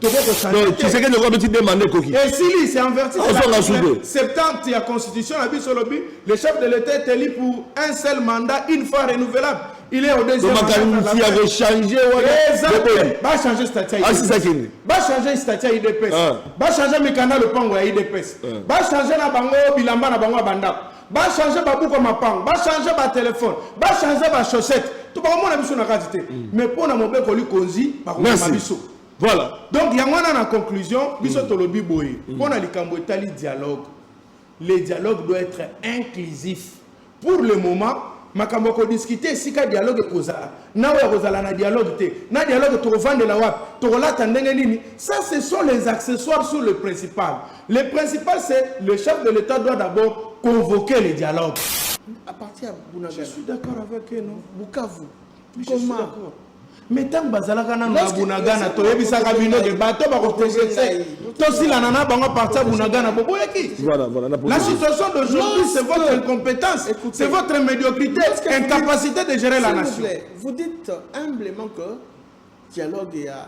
donc tshisekedi okomi ti demande ekoki esili c'est enverti azonga sude septante ya constitution na biso olobi le chef de l'état est élu pour un seul mandat une fois renouvelable il est au deuxième makanisi ya kochange wanabachange stati asisakini bachange stati ya idps bachange mikanda lopango ya idps bachange na bango bilamba na bango ya bandako bachange babuku ya mapango bachange batelefone bachange bachaussette to bakomona biso na kati te mais mpo na mobeko likonzi bakomona biso Voilà. Donc, yango wana na conclusion, biso mm. tolobi boye. Mm. Pona likambo etali dialogue. Le dialogue doit être inclusif. Pour le moment, makambo ya kodiscute esika dialogue ekozala na oyo akozala na dialogue te na dialogue tokovandela wapi tokolata ndenge nini ça ce sont les accessoires sur le principal le principal c'est le chef de l'état doit d'abord convoquer le dialogue à partir ya bunaga je suis d'accord avec eux non bukavu comment me ntango bazalaka nano na bunagana toyebisaka bino ke bato bakoprogrese tosilana na bango aparti ya bunagana boboyaki la situation d'aujourd'hui c'est votre incompétence c'est votre médiocrité incapacité de gérer la nation vous dites humblement que dialogue ya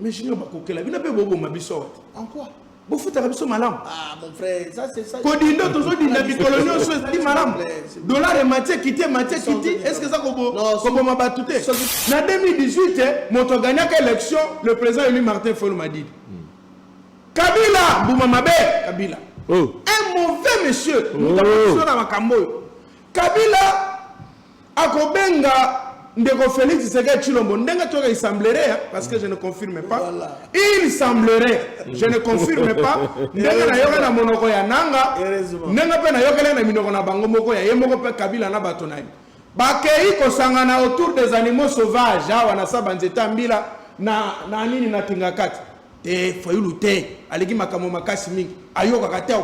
Mais junior bakokela bino mpe boboma biso awa te. En quoi? bofutaka biso malamu ah, kodinda tozodinda mikolo nyonso ezali malamu dollar emati ekiti emati ekiti estce eza koboma bato te na 2018 eh, moto aganiaka élection le président élu martin fol madidi hmm. kabila mbuma mabe kabila oh. un mauvais monsieur moto oh. na makambo oyo kabila akobenga ndeko Felix Tshisekedi Tshilombo ndenge toyoka il semblerait hein, parce que je ne confirme pas voilà. il semblerait je ne confirme pas ndenge nayoka na monoko ya nanga ndenge mpe nayokela na minoko na bango moko ya ye moko mpe kabila na bato na ye bakei kosangana autour des animaux sauvages awa na saba nzete ya mbila na, na nini na kingakati te fayulu te aleki makambo makasi mingi ayokaka te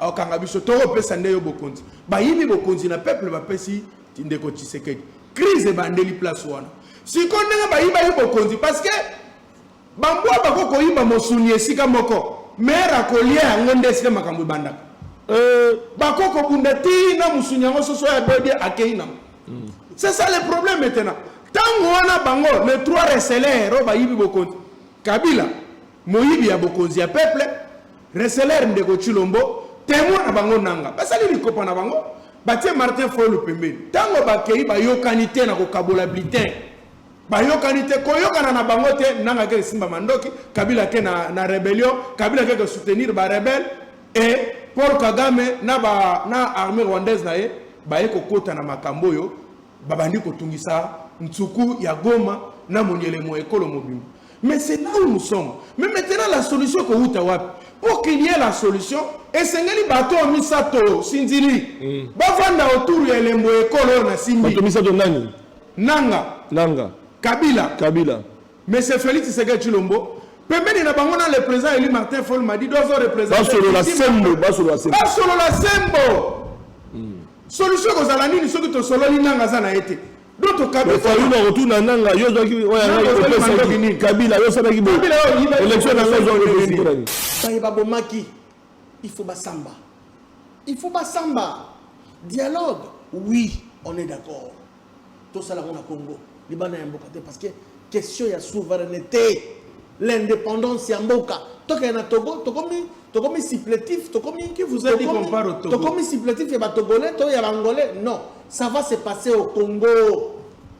akokanga biso tokopesa nde yo bokonzi bayibi bokonzi na peuple bapesi ndeko tshisekedi crise ebandeli place wana sikoyo ndenge bayiba yo bokonzi parce que bambwa bako koyiba mosuni esika moko mere akolia yango nde esika makambo ebandaka euh, bako kobunda ti na mosuni yango soso ya bodi akei nango hmm. c'est ça le problème maintenant ntango wana bango le trois reselero bayibi bokonzi Kabila moyibi ya bokonzi ya peuple, reseller ndeko Tshilombo, temoin na bango nanga. Basali likopa na bango, batie Martin Fayulu pembeni. Tango bakeyi bayokani te na kokabola bulletin. Bayokani te, koyokana na bango te, nanga ke simba mandoki, Kabila ke na, na rebellion, Kabila ke soutenir ba rebelle et Paul Kagame na ba na armée rwandaise na ye baye kokota na makambo oyo babandi kotungisa nsuku ya goma na monyelemo ya ekolo mobimba mais c'est là où nous sommes mais maintenant la solution ekowuta wapi pour qu'il y ait la solution esengeli bato oyo misato sinzili mm. bavanda autour ya elembo ya ekolo oyo na simbi bato misato nani nanga nanga kabila kabila Monsieur Felix Tshisekedi Tshilombo pembeni na bango na le président élu Martin Fol Madido azo représenter basolola sembo basolola sembo basolola sembo hmm. solution kozala nini soki tosololi nanga aza na ye te fayulu akotuna nanga yo ozwaki kabila yo osalaki boelection nanga ozwaki baye babomaki il faut basamba il faut basamba dialogue oui on est d'accord tosala yango na congo libanda ya mboka te parce que question ya souveraineté l'indépendance ya mboka tokende na togo tokomi tokomi supplétif tokomi qui vous a dit qu'on part au togo tokomi supplétif ya batogolais to ya bangolais non ça va se passer au congo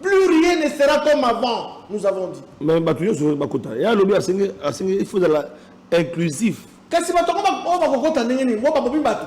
plus rien ne sera comme avant nous avons dit mais bato nyonso bakota ya alobi asengi asengi il faut ezala inclusif kasi bato yango oyo bakokota ndenge nini oyo babomi bato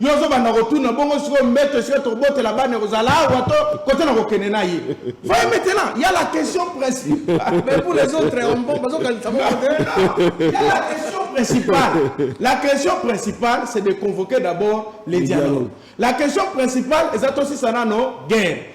yo ozobanda kotuna bongo sikoyo mbeto esika tokobotela bana ekozala awa to kote na kokende na ye voye maintenant ya la question principale mais pour les autres bazokanisa ya la question principale la question principale c'est de convoquer d'abord les dialogues la question principale eza tosisa nano guerre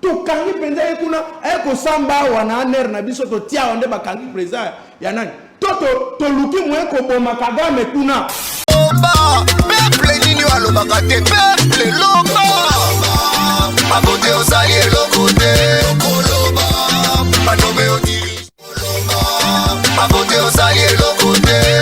tokangi mpenza ye kuna aye kosamba awa na aner na biso totia awa nde bakangi president ya nani to toluki moye koboma kagame kuna loba peple nini oyo alobaka te peple loba abote ozali eloko te koloba banobe oti koloba abote ozali eloko te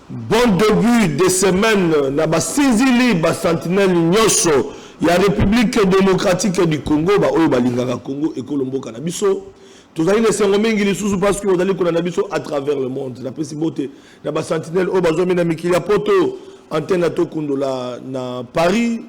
Bon debut de semaine na basinzili ba sentinelles nyoso ya Republique democratique du Congo ba oyo balingaka Congo ekolo mboka na biso. Tozali na esengo mingi lisusu parce que bozali kolanda biso à travers le monde. Napesi mbote na ba sentinelles oyo bazwami na mikili ya poto, antenne ya Tokundola na Paris,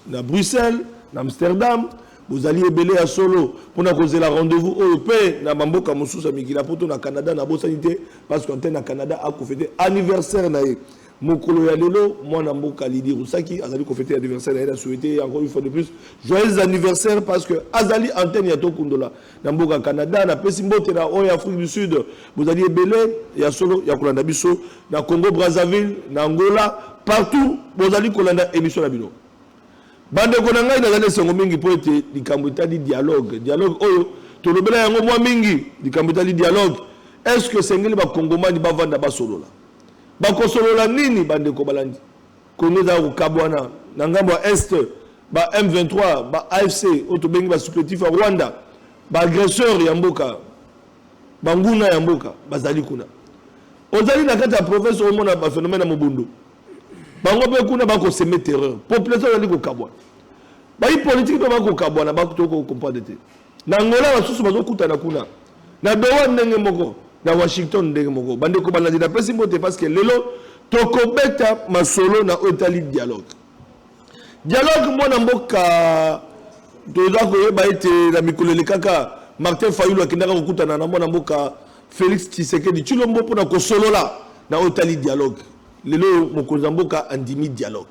na Bruxelles, na Amsterdam, bozali ebele ya solo mpo na kozela rendez-vous oyo mpe na bamboka mosusu ya mikili ya poto na Canada. Nabosani te parce que antenne na Canada akofete anniversaire na ye mokolo ya lelo. Mwana mboka Lydie Rusaki azali kofete anniversaire na ye, na souhaite ye encore une fois de plus joyeux anniversaire parce que azali antenne ya Tokundola. na mboka Canada. Napesi mbote na oyo ya Afrique du Sud, bozali ebele ya solo ya kolanda biso na Congo Brazzaville, na Angola, partout bozali kolanda emission na bino. Bandeko na ngai, nazali esengo mingi mpo ete likambo etali dialogue, dialogue oyo tolobela yango mwa mingi, likambo etali dialogue, est ce que esengeli bakongomani bavanda basolola? Bakosolola nini, bandeko balandi? Congo ezalaka kokabuana na ngambo ya Est, ba M23, ba AFC, oyo tobengi ba supplétifs ya Rwanda, ba agresseurs ya mboka, banguna ya mboka bazali kuna. Ozali na kati ya province omona ba phénomène ya mobondo. Bango mpe kuna bakoseme terreur. Population ezali kokabuana. Bayi politique mpe bakokabwana, bato toko comprendre te. Na Angola basusu bazokutana kuna. Na Doha ndenge moko, na Washington ndenge moko. Bandeko balandi napesi mbote parce que lelo tokobeta masolo na oyo etali dialogue. Dialogue mwana mboka toza koyeba ete na mikolo elekaka Martin Fayulu akendaka kokutana na mwana mboka Felix Tshisekedi Tshilombo mpo na kosolola na oyo etali dialogue. Lelo oyo mokonzi ya mboka andimi dialogue.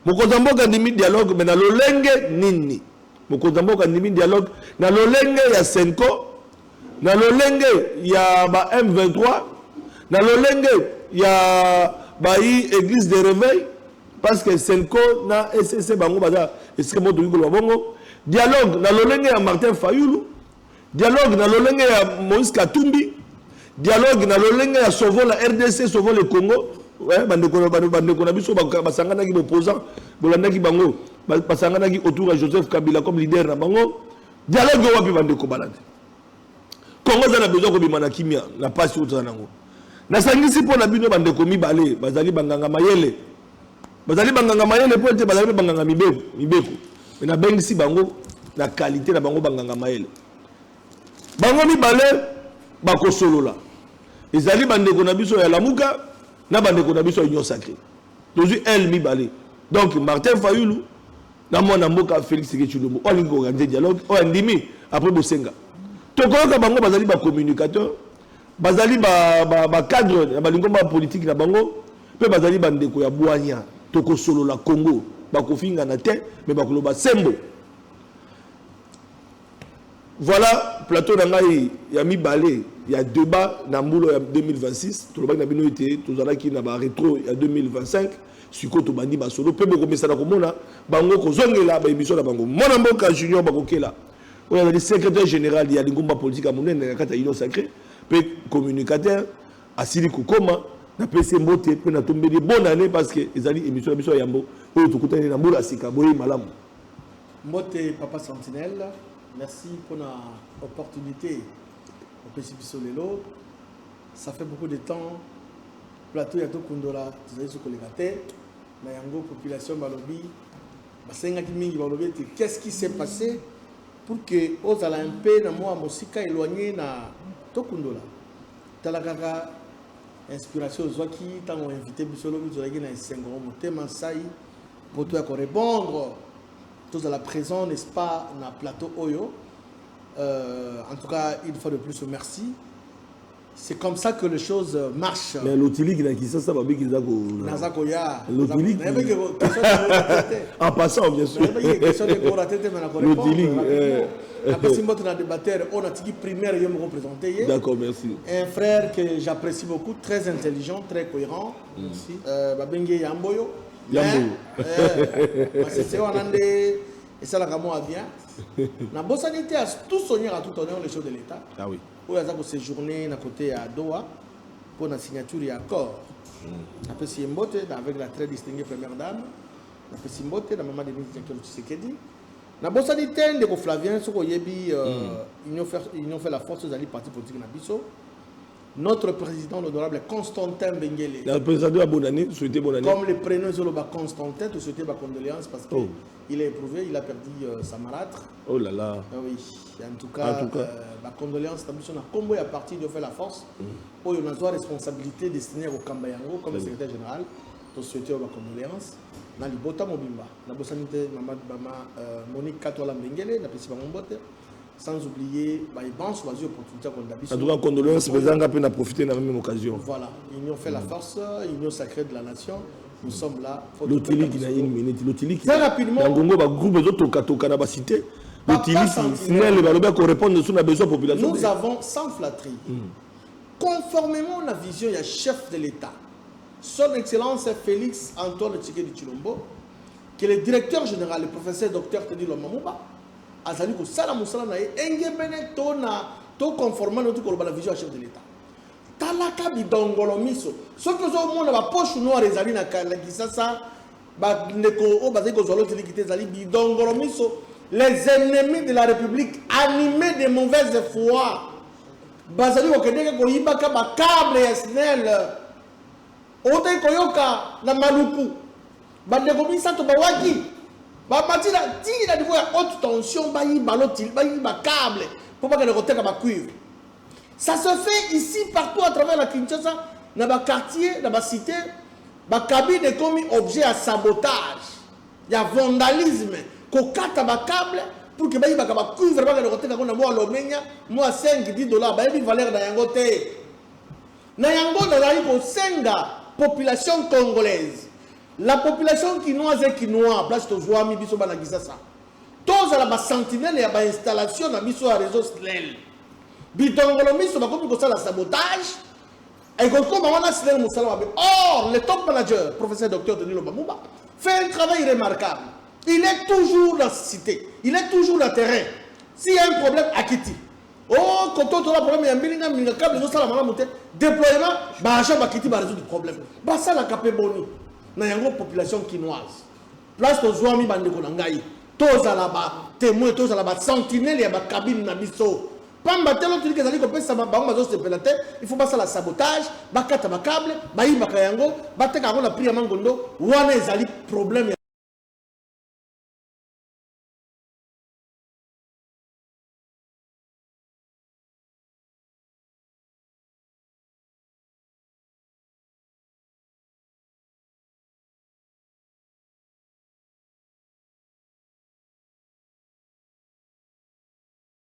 Mokonzi ya mboka andimi dialogue mais na lolenge nini? Mokonzi ya mboka andimi dialogue na lolenge ya Senko, na lolenge ya ba M23, na lolenge ya bayi Eglise de Reveil parce que Senko na ECC bango baza esika moko toki koloba bongo. Dialogue na lolenge ya Martin Fayulu Dialogue na lolenge ya Moïse Katumbi, dialogue na lolenge ya Sauvons la RDC, Sauvons le Congo. Ouais, bandeko bandeko na biso basanganaki bopposant, bolandaki bango, basanganaki autour ya Joseph Kabila comme leader na bango. Dialogue wapi bandeko balandi. Congo eza na besoin kobima na kimia, na pasi oyo toza nango. Nasangisi mpo na bino bandeko mibale bazali banganga mayele Bazali banganga mayele mpo ete bazali mpe banganga mibeko mibeko, mpe nabengisi bango na kalite na bango banganga mayele. Bango mibale bakosolola, ezali bandeko na biso ya Lamuka na bandeko na biso ya Union Sacree. Tozwi L mibale, donc Martin Fayulu na mwana mboka Felix Tshisekedi oyo alingi koorganize dialogue, oyo andimi apres bosenga. Tokoyoka bango bazali ba communicateur, bazali ba, ba, ba cadre ya balingomba politiki na bango Mpe bazali bandeko ya bwanya. Tokosolola Congo. Bakofingana te, mais bakoloba sembo. Voilà plateau na ngai ya mibale ya debat na mbulo ya 2026. Tolobaki na bino ete tozalaki na ba retro ya 2025. sikoyo tobandi masolo mpe bokomesana komona bango kozongela baemission na bango mwana mboka junior bakokela oyo azali secrétaire général ya lingomba politike ya monene na kati ya union sacré mpe communicateur asili kokoma napesi ye mbote mpe natombeli ye bonne année parce que ezali émission na biso ya yambo oyo tokutani na mbula ya sika boyei malamu mbote papa sentinelle merci mpona opportunité opesi biso lelo ça fait beaucoup de temps plateau ya tokundola tozali so koleka te na yango population balobi basengaki mingi balobi ete qu'est ce qui s'est passé pour que ozala un peu na mwa mosika éloigné na tokundola Tala kaka inspiration ozwaki tango invite biso lobi tozalaki na esengo motema nsai poto ya ko repondre tozala présent n'est-ce pas na plateau oyo euh, en tout cas une fois de plus merci c'est comme ça que les choses marchent mais lotiliki na kisasa babiki eza ko naza ko ya lotiliki en passant bien sûr lotiliki napesi mbote na debatteur oyo natiki primaire yo moko présente ye d'accord merci un frère que j'apprécie beaucoup très intelligent très cohérent merci euh, babengi ye yambo yo yambo eh, masese wana nde esalaka mwa bien nabosani te tout sonier à tout honneur les choses de l'état ah oui oyo aza koséjourne na côté ya doha mpo na signature ya accord mm. apesi ye mbote avec la très distinguée première dame napesi mbote na mama denise jankelo tshisekedi Na bosani te ndeko Flavien soki oyebi Union faire Union fait la force ezali parti politique na biso. Notre president l'honorable Constantin Bengele. Na president ya bonne année, souhaiter bonne année. Comme le prenom ezo loba Constantin, to souhaiter ba condoléances parce que oh. il a éprouvé, il a perdu euh, sa marâtre. Oh là là. Ah oui, en tout cas, en tout cas. Euh, ba condoléances na biso na combo ya parti de fait la force. Mm. Oyo na zwa responsabilité destinée au Kambayango comme le secrétaire général. To souhaiter ba condoléances na libota mobimba. Nabosani te mama bama euh, Monique Katwala Mbengele napesi bango mbote sans oublier baye banso bazwi opportunité ya kolanda biso. En tout cas condoléances mpenza nga mpe na profiter na même occasion. Voilà, union fait la force, union sacrée de la nation. Nous sommes là. Lotiliki na une minute, lotiliki. Très rapidement. Na ngongo ba groupe ezo toka toka na ba cité. Lotiliki, Snell balobi ako répondre sur na besoin population. Nous avons sans flatterie. Mm. Conformément à la vision ya chef de l'État. Son Excellence Felix Antoine Tshikedi Tshilombo, que le Directeur General, le Professeur Docteur Teddy Lwamba Muba, azali kosala mosala na ye engebene to na to conformant na koloba na vision ya chef de l'État. Talaka bidongolo miso. Soki ozomona ba poche noire ezali na Kisasa, bandeko oyo bazali kozwa lotiliki te ezali bidongolo miso les ennemis de la République animés de mauvaise foi Bazali kokendeke koyibaka ba cable ya snel. Owutaki koyoka na Maluku bandeko misato bawaki bamati na tii na niveau ya haute tension bayiba lotili bayiba cable mpo bakende koteka ba cuivre. Ça se fait ici partout à travers la Kinshasa na ba quartier na ba cite ba cabine ekomi objet ya sabotage. ya vandalisme kokata ba cable pour que bayibaka ba cuivre bakende koteka ngo na mwa lomenya mwa 5 10 dollars bayebi valeur na yango te na yango nazali kosenga population congolaise la population kinoise et kinois place tozwami biso bana kisasa tozala basentinele ya bainstallation na biso ya réseau slel bitongolo miso bakomi kosala sabotage Ekokoma wana asilaki mosala mabe. Or, le top manager, professeur docteur Denis Lobamuba, fait un travail remarquable. Il est toujours dans cité. Il est toujours dans terrain. S'il y a un problème, akiti. Oh, quand on a un problème, il y a un million, il y a un câble, il y a un problème. Déploiement, bah, agent bakiti va résoudre le problème. Bah, ça, la capé boni. Na yango population kinoise. Place aux zoami bandeko na ngai. Tozala ba témoins, tozala ba sentinelles ya ba cabine na biso. Pamba te lotiliki ezali kopesama, bango bazosepela te, il faut basala sabotage, bakata ba cable, bayibaka yango, bateka yango na prix ya mangondo, wana ezali problème ya.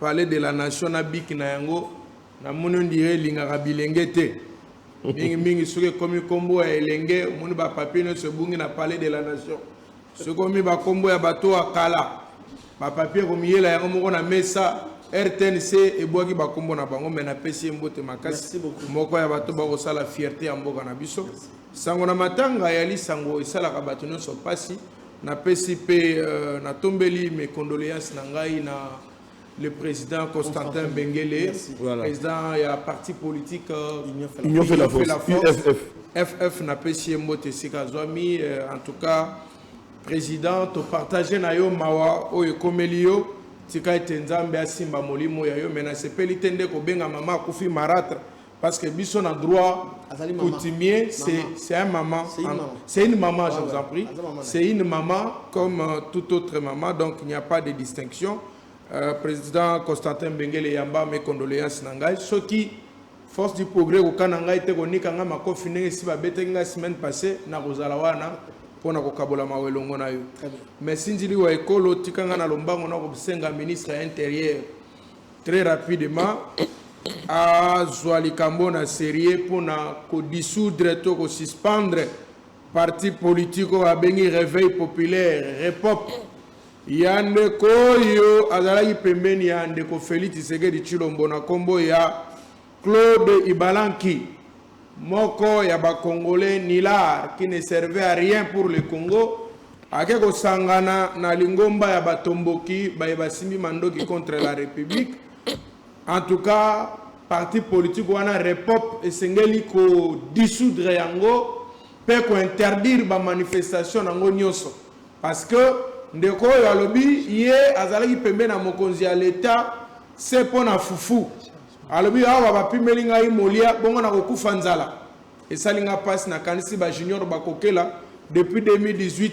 palais de la nation na biki na yango namoni ondire elingaka bilenge te mingi mingi soki ekomi nkombo ya elenge omoni bapapie nyonso ebungi na palais de la nation soki okomi bakombo ya bato ya kala bapapie ekomiyela yango moko na mesa rtnc ebwaki bakombo na bango me napesi ye mbote makasi moko ya bato bakosala fierte ya mboka na biso sango na matanga ya lisango esalaka bato nyonso mpasi Napesi mpe natombeli mes condoleances na ngai na le president Constantin Bengele, president ya parti politique Union fait la force, FF napesi ye mbote esika azwami. En tout cas, president topartage na yo mawa oyo ekomeli yo tika ete nzambe asimba molimo ya yo me nasepeli te nde kobenga mama akufi maratre Parce que biso na droit coutumier, c'est un maman. C'est une maman, je vous en prie. C'est une maman comme euh, toute autre maman, donc il n'y a pas de distinction. Euh, président Constantin Bengele Yamba, mes condoléances Nangai. Ce qui, force du progrès, au Kananga, était au Nikanga, ma confiné, si ma bête la semaine passée, na Rosalawana, pour na kokabola ma welongo na yo. Mais si ndili wa ekolo, tikanga na lombango na kosenga ministre intérieur. très rapidement azwa likambo na serieux mpo na kodissoudre to kosuspendre parti politike oyo abengi réveil populaire repop ya ndeko oyo azalaki pembeni ya ndeko feli tshisekedi tshilombo na nkombo ya claude ibalanki Moko ya ba congolais nulard qui ne servait à rien pour le Congo ake kosangana na lingomba ya batomboki baye basimbi mandoki contre la Republique. En tout cas, parti politique wana Repop esengeli ko dissoudre yango pe ko interdire ba manifestations nango nyoso parce que ndeko oyo alobi ye azalaki pembeni ya mokonzi ya l'Etat se pona fufu. Alobi awa ba pimeli ngai molia bongo na ko kufa nzala esali nga pasi na kanisi ba junior ba kokela depuis 2018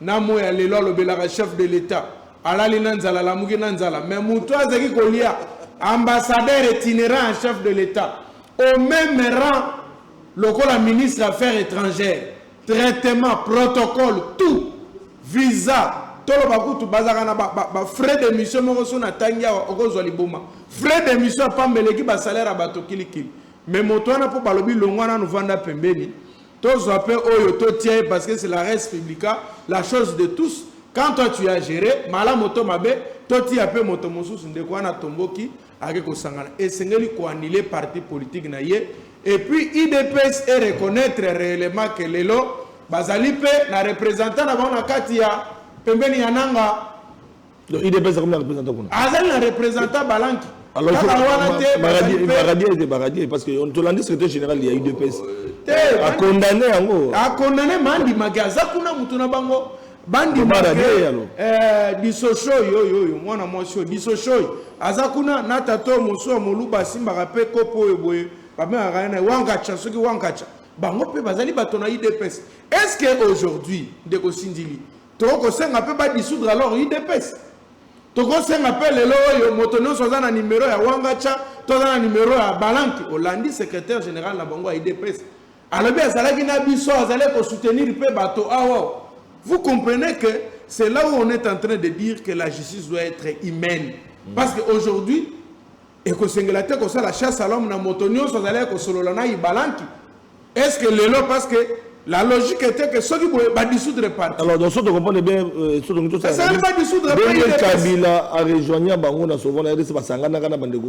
na moyi ya lelo alobelaka chef de l'etat alali na nzala alamuki na nzala mais mutu azaki kolia ambassadeur itinerant ya chef de l'etat au meme rang lokola ministre ya affaires etrangères traitement protocole tout visa toloba kutu bazalaka na ba, ba, ba frais de mission moko so na tangi awa okozwa liboma frais de mission ya pamba eleki basalaire ya bato kilikili me moto wana mpo balobi longwa nanu vanda pembeni tozwa mpe oyo totia ye parce que c'est la res publica la chose de tous quand toi tu as géré malamu to mabe totia mpe moto mosusu ndeko wana tomboki Ake kosangana esengeli ko annuler parti politique na ye et puis udps e reconnaitre reellement que lelo bazali mpe na representant na bango na kati ya pembeni ya nanga Donc IDPS akomi na représentant kuna. azali na representant balanki Alors kaka wana te bazali mpe Maradi ete Maradi parce que on tolandi secrétaire général ya UDPS. te A condamner yango. akondane mandimaki aza kuna motu na bango bandimake eh, disoshoi oyo oyo mwana mwasi oyo disoshoi aza kuna na tata oyo mosusu ya moluba asimbaka mpe kopo oyo boye babengaka ye na wankacha soki wankacha bango mpe bazali bato na idps est ce que aujourd'hui ndeko sindili tokosenga mpe badissoudre alors idps tokosenga mpe lelo oyo moto nyonso aza na nimero ya wangacha to aza na nimero ya balanki olandi secrétaire général na bango ya idps Alobi azalaki na biso, azalaki ko soutenir pe bato awa. Vous comprenez que c'est là où on est en train de dire que la justice doit être humaine. Mm. Parce que aujourd'hui ekosengela te kosala chasse à l'homme na moto nyonso azalaki kosolola na ibalanki est ce que lelo parce que la logique était que soki boye ba dissoudre parti alors donc soki tokomprendre bien euh, soki tokoki tosala kabila a rejoigna bango na souvent na rdc basanganaka na bandeko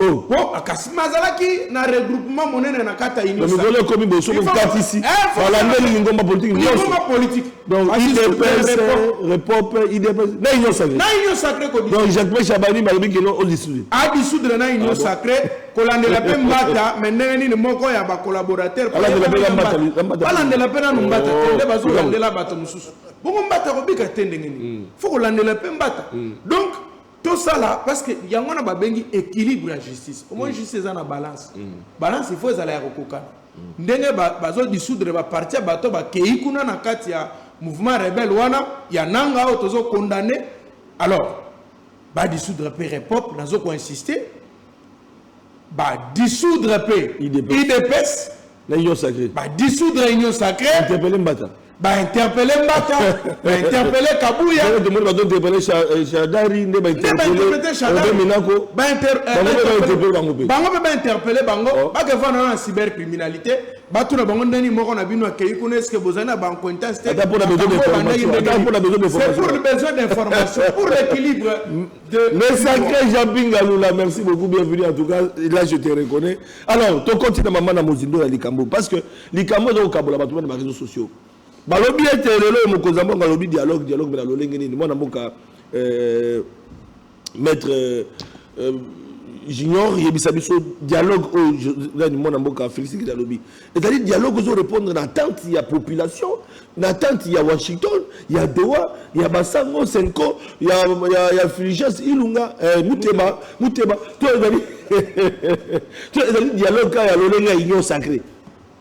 Oh. po kasi mazalaki na regroupement monene na kati ya unionmikolo ekomi boso kokatisi eh, balandeli lingomba politike nyonsongomba politike donc idps repop idps na union sacré na union sacré kodi donc jacques pe chabani balobi kino odisudre adisudre na union ah sacré kolandela mpe mbata me ndenge nini moko ya bacollaborateur balandela mpe nanu mbata te oh, nde bazolandela bato mosusu bongo mbata kobika te ndenge nini hmm. fo kolandela mpe mbata hmm. donc tosala parce que yango wana babengi équilibre ya justice omoni mm. justice eza na balance mm. balance il faut ezala ya kokokana mm. ndenge bazodissoudre baparti ya bato bakei kuna na kati ya mouvement rebelle wana ya nanga oyo tozo condamne alors badissoudre mpe repop nazo koinsiste badissoudre mpe idps na union sacrée ba dissoudre union sacrée interpeller mbata ba interpeller mbata ba interpeller kabuya nde tomoni bato interpeller shadari nde ba interpeller shadari minako ba interpeller bango pe bango pe ba interpeller bango ba ke vana na cybercriminalité bato na bango ndani moko na bino akei kuna eske bozali na bancointance te pour le besoin d'information pour l'équilibre de le sacré jean pingalula merci beaucoup bienvenue en tout cas là je te reconnais alors tokoti na mama na mozindo ya likambo parce que likambo eza kokabola bato bana bareseau sociaux balobi ete lelo oyo mokonzi ya mboka alobi dialogue dialogue mpe na lolenge nini mwana mboka euh, maître euh, euh, junior yebisa biso dialogue oyo nani mwana mboka félix kidi alobi ezali dialogue ezo repondre na attente ya population na attente ya washington ya doha ya basango senko ya, ya, ya filiges ilunga eh, muteba muteba to ezali to ezali dialogue kaka ya lolenge ya union sacré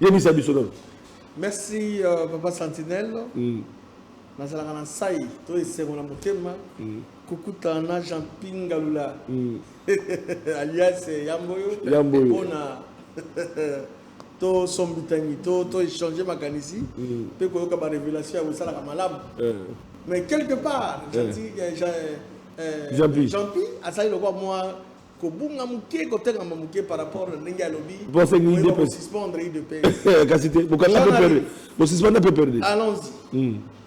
yebisa biso nano merci uh, papa sentinelle mm. nazalaka na nsai to esengo na motema mm. Kokutana na Jean-Pi Ngalula alias Yamboyo mpo na tosombitangi to to échanger makanisi mpe koyoka ba révélation ya kosalaka malamu mais quelque part jean-pi jean-pi azali lokola mwa kobunga moke kotengama moke par rapport na ndenge alobi bosuspendre idps kasi te bosuspendre mpe perde allons-y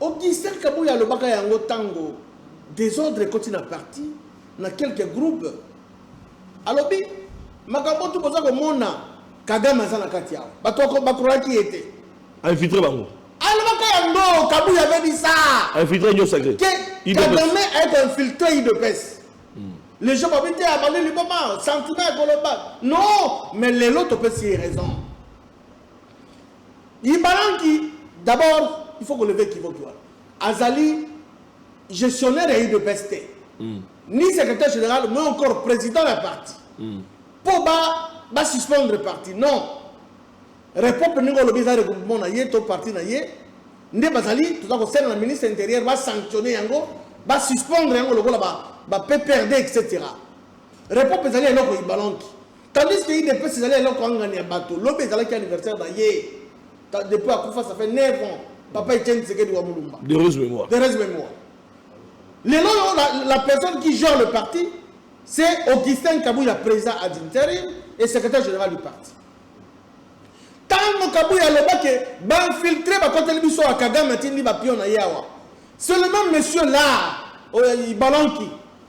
Augustin kabuya alobaka yango tango desordre ekoti na parti na quelques groupes alobi makambo tout boza komona kagame aza na kati awa bato bakuraki ye te infiltre bango alobaka yango kabuya abebisa infiltre nyo sacre kagame aye koinfiltre idps hmm. les gens babi te abandi liboma sentiment ya koloba non mais lelo topesi ye raison Ibalanki d'abord il faut ko lever kivoki wana azali gestionnaire ya udps te ni secretaire general mais encore president ya parti mpo ba ba suspendre parti non repope ndenge olobi eza regroupement na ye to parti na ye nde bazali toza kosenga na ministre ya intérieur ba sanctionner yango ba suspendre yango lokola ba ba pprd etc repope ezali eloko ibalanki Tandis que udps ezali eloko angani ya bato, lobi ezalaki anniversaire na ye, depuis akufa ça fait 9 ans, papa Etienne Tshisekedi wa Mulumba. De heureuse mémoire. De heureuse mémoire. Lelo yo la, la personne qui gère le parti, c'est Augustin Kabuya, président ad interim et secrétaire général du parti. Tango Kabuya loba que b'infiltré bakoteli biso ya Kagame atindi ba pion na ye awa. C'est le même monsieur là, euh, Ibalanki.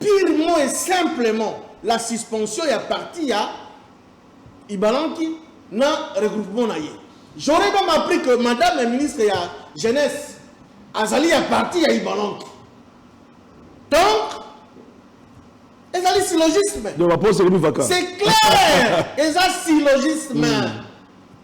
Purement et simplement la suspension ya parti ya Ibalanki na regroupement na ye. J'aurais même appris que madame la ministre ya jeunesse azali ya parti ya Ibalanki. Donc, ezali syllogisme. Donc, la pose est C'est clair! Eza syllogisme. Mm.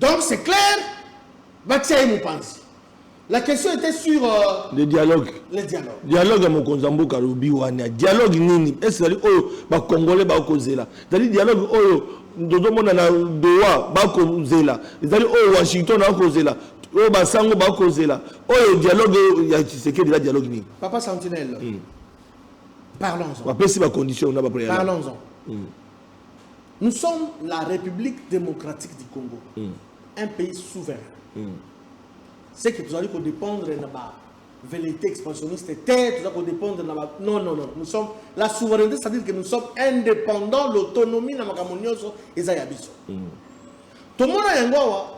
Donc c'est clair, batia ye mopanzi. La question était sur euh, le dialogue. Le dialogue. Dialogue ya mokonzi ya mboka lobi wana. Dialogue nini? Est-ce ezali oyo ba congolais ba kozela? Ezali dialogue oyo tozomona na Doha ba kozela. Ezali oyo Washington ba kozela. Oyo basango ba kozela. Oyo dialogue ya Tshisekedi la dialogue nini? Papa Sentinelle. Hmm. Parlons-en. Bapesi ba conditions na ba préalables. Parlons-en. Hmm. Nous sommes la Republique democratique du Congo, un pays souverain. Ce que tozali ko dependre na ba velleite expansioniste te, tozali ko dependre na ba non non non, nous sommes la souveraineté, c'est-à-dire que nous sommes indépendants, l'autonomie na makambo nyonso eza ya biso. Tomona yango awa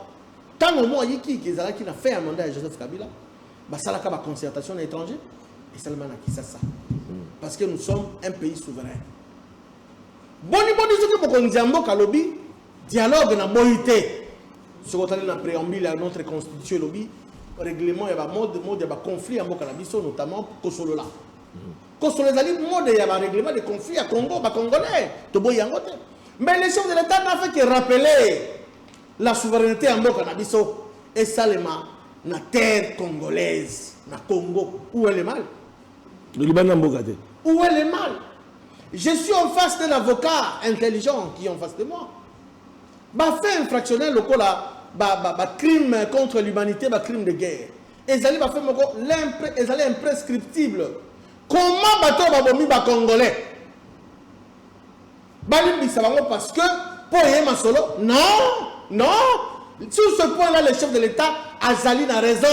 ntango mwa yikiyiki ezalaki na fin ya mandat ya Joseph Kabila, basalaka ba concertation na étranger, esalema na Kisasa. Parce que nous sommes un pays souverain. Boni boni soki mokonzi ya mboka alobi dialogue na boyi te soki otali na preambule ya notre constitution elobi règlement ya ba mode mode ya ba conflit ya mboka na biso notamment kosolola kosolola ezali mode ya ba règlement de conflit ya Congo ba congolais toboyi yango te mais les chefs de l'état n'a fait que rappeler la souveraineté ya mboka na biso esalema na terre congolaise na Congo où est le mal libanda mboka te où est le mal je suis en face d'un avocat intelligent qui est en face de moi bafaits infractionnel lokola bacrime ba, ba contre l'humanité bacrime de guerre ezali bafaits moko ezali imprescriptible comment bato oyo babomi bacongolais Balimbisa bango parce que po eye masolo non non Sur ce point-là, le chef de l'État a zali na raison.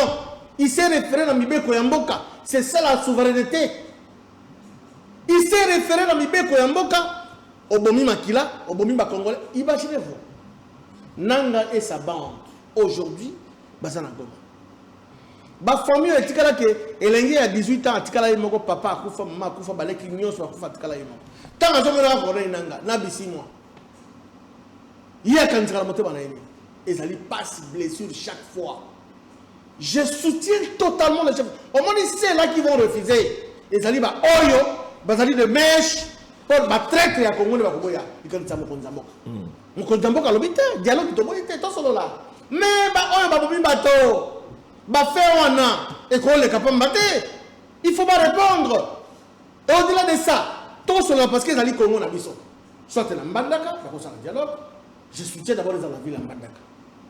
Il s'est référé na Mibeko ya mboka. C'est ça la souveraineté. Il s'est référé na Mibeko ya mboka. Obomi Makila, Obomi Bakongole. Imaginez-vous. Nanga et sa bande, aujourd'hui, Bazana Goma. Ba famille oyo etikala ke elenge ya 18 ans atikala ye moko papa akufa mama akufa baleki nyonso bakufa atikala ye moko. Ntango azomonaka corneille nanga na bisimwa ye akanisaka na motema na ye nini ezali passe blessure chaque fois je soutiens totalement le chef omoni ceux là qui vont refuser ezali ba oyo bazali de mèche mpo batraitre ya kongo nde bakoboya likanisa mokonzi ya mboka Mokonzi ya mboka alobi te dialogue toboyi te tosolola me baoyo babomi bato bafe wana ekoleka pamba te il faut barépondre au delà de ça tosolola parce que ezali kongo na biso soit na mbandaka bakosala dialogue je soutiens d'abord eza la ville ya mbandaka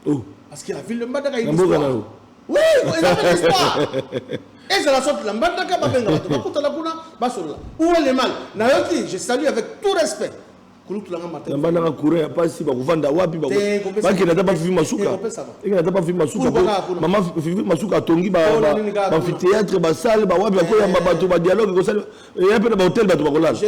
oh. parce que la ville de mbandaka histoire oui eza mpe histoire ezala soit na mbandaka babenga bato bakutana kuna basolola ou le mal nayoki je salue avec tout respect nambandaka courant ya pasi bakovanda wapi bakenda ata bafifi masuka ekenda ata bafifi masuka mama fifi masuka atongi baamphithéâtre basale bawapi akoyamba bato badialogue ekosala eya mpe na bahotel bato bakolala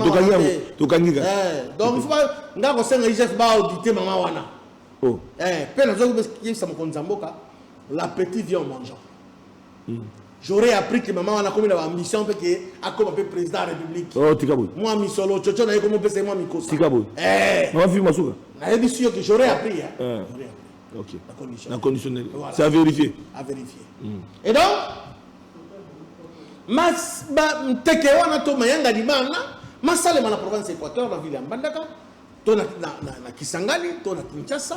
tokangi yango tokangi kaka nga kosenga igf baaudite mama wana mpe nazoki yebisa mokonzi ya mboka l'appétit vient en mangeant J'aurais appris que maman wana akomi na ba ambition mpe ke akoma mpe président ya république. Oh tika boye. Mwa misolo coco na ye komo pesa ye mwa mikosi. Tika boye. Eh. Maman fille masuka. Nayebisi yo que j'aurais appris hein. Eh. J'aurais appris. Ok. Na conditionnel. Na conditionnel. Voilà. C'est à vérifier. À vérifier. Mm. Et donc mas ba mteke wana to mayanga libanga masalema na province Équateur na ville ya Mbandaka to na, na, na, na Kisangani to na Kinshasa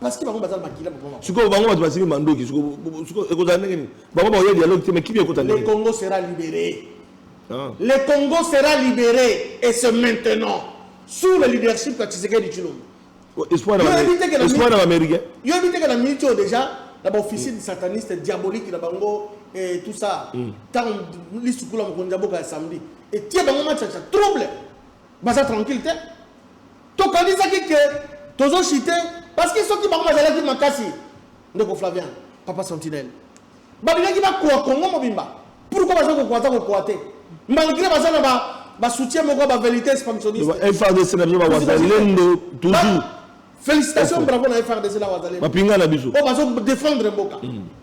Parce que bango baza na makila moko moko. Sikoyo bango bato basimi mandoki sikoyo sikoyo ekozala ndenge nini? Bango bakoya dialogue te mais kimia ekota ndenge. Le Congo sera libéré. Ah. Le Congo sera libéré et c'est maintenant sous le leadership ya Tshisekedi Tshilombo. Oh, espoir na espoir na américain. Yo habite que la minute oh, déjà la officine mm. sataniste diabolique na bango et tout ça. Mm. Tant lisukula mokonzi ya boka ya samedi. Et tie bango match trouble. Baza tranquille te. Tokanisaki que tozo chiter parce que soki bango bazalaki makasi ndeko Flavian, papa Sentinelle. Balingaki bakoa Congo mobimba. Pourquoi baza kokoa ata kokoa te? Malgré baza na ba ba soutien moko ba vérité expansionniste. Ba FARDC na biso ba wazalendo toujours. Félicitations bravo na FARDC la wazalendo. Ba pinga na biso. Oh bazo défendre mboka. Mm.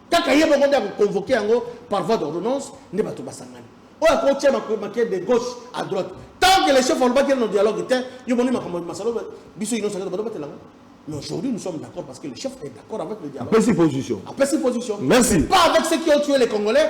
Kaka ye moko nde ako convoquer yango par voie d'ordonnance nde bato basangani. Oyo ako tia maquette de gauche à droite. Tant que le chef alobaki no dialogue te, yo omoni makambo masalo biso ino sakata bato batela ngo. Mais aujourd'hui, nous sommes d'accord parce que le chef est d'accord avec le dialogue. Apesi position. Apesi position. Merci. Pas avec ceux qui ont tué les Congolais,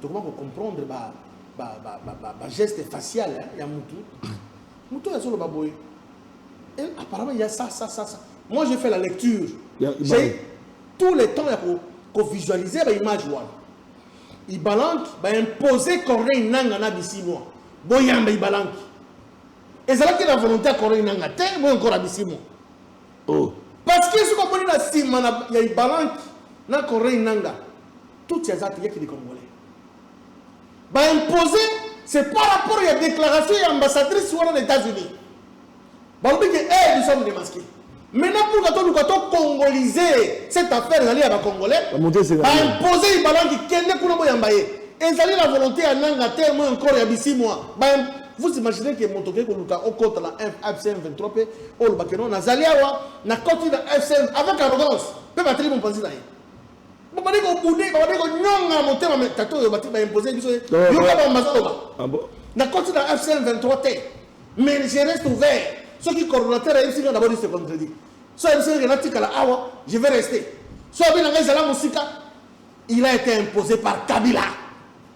Tokoba ko comprendre ba ba ba ba ba, ba geste facial hein, ya mutu. Mutu oyo azoloba boye. Et apparemment il y a ça ça ça ça. Moi j'ai fait la lecture. Ya- J'ai Ibalan. tous les temps ya ko ko visualiser ba image wana. Ibalanki ba imposer Corneille Nanga na Bisimwa. Boyamba Ibalanki. Ezalaki na volonté ya Corneille Nanga te, boye encore na Bisimwa. oh Parce que soki omoni na nsima na- ya ibalanki na corneille nanga Tutsi aza te, yaki de congolais. Ba imposer c'est par rapport ya déclaration ya ambassadrice wana na Etats-Unis. Balobi ke eh nous sommes démasqués. Maintenant pour que toluka to congoliser cette affaire ezali ya ba congolais. Ba imposer ibalangi kende kuna boyamba ye. Ezali la volonté ya nanga te moi encore ya bisimwa. Ba vous imaginez que moto ke koluka okota la FCM 23 pe olobake non nazali awa na koti na FCM avec arrogance pe bateli mopanzi na ye. babandi kobude babandi konyonga motema me tata oyo bati baimpose biso ye Non, yoka non. bango bazoloba Ah bon? nakoti na fcm 23 te mais je reste ouvert soki coordonnateur ayebisi nga nabodi se contredit so ayebisi nga natikala awa je vais rester so abi na ngai ezala mosika il a été imposé par kabila